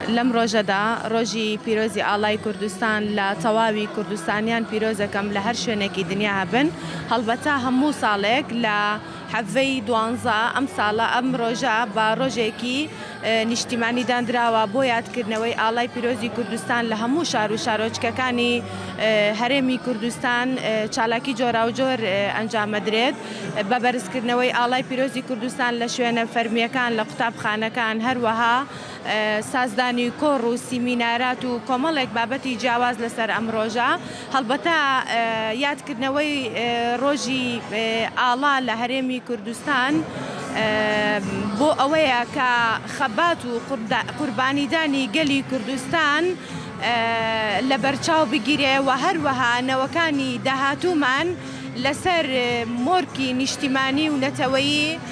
لەم ڕۆژەدا، ڕۆژی پیرۆزی ئاڵای کوردستان لە تەواوی کوردستانیان پیرۆزەکەم لە هەر شوێنێکی دنیا هەبن، هەڵبەتە هەموو ساڵێک لە حەڤەی دوانزە ئەم ساڵە ئەم ڕۆژە بە ڕۆژێکی نیشتیمانی داندراوە بۆ یادکردنەوەی ئاڵای پیرۆزی کوردستان لە هەموو شار و شارۆچکەکانی هەرێمی کوردستان چالاکی جۆراوجۆر ئەنجامەدرێت بە بەرزکردنەوەی ئاڵای پیرۆزی کوردستان لە شوێنە فەرمیەکان لە قوتابخانەکان هەروەها سازدانی کۆڕ و سیمینارات و کۆمەڵێک بابەتی جیاواز لەسەر ئەم ڕۆژە، هەڵبەتە یادکردنەوەی ڕۆژی ئاڵا لە هەرێمی کوردستان بۆ ئەوەیە کە خەبات و قوربانیدانی گەلی کوردستان لەبەرچاو بگیرێ و هەروەها نەوەکانی داهاتوومان لەسەر مۆرکی نیشتیمانی و نەتەوەیی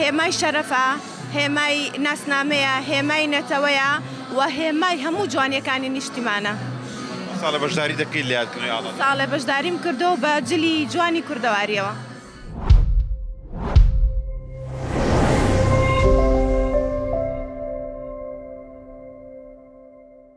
هێمای شەرەفە، هێمای ناسنامەیە، هێمای نەتەوەیە و هێمای هەموو جوانیەکانی نیشتیمانە. چەند ساڵە بەشداری دەکەیت لە یادکردنەوەی ئاڵا؟ چەند ساڵە بەشداریم کردووە بە جلی جوانی کوردەواریەوە.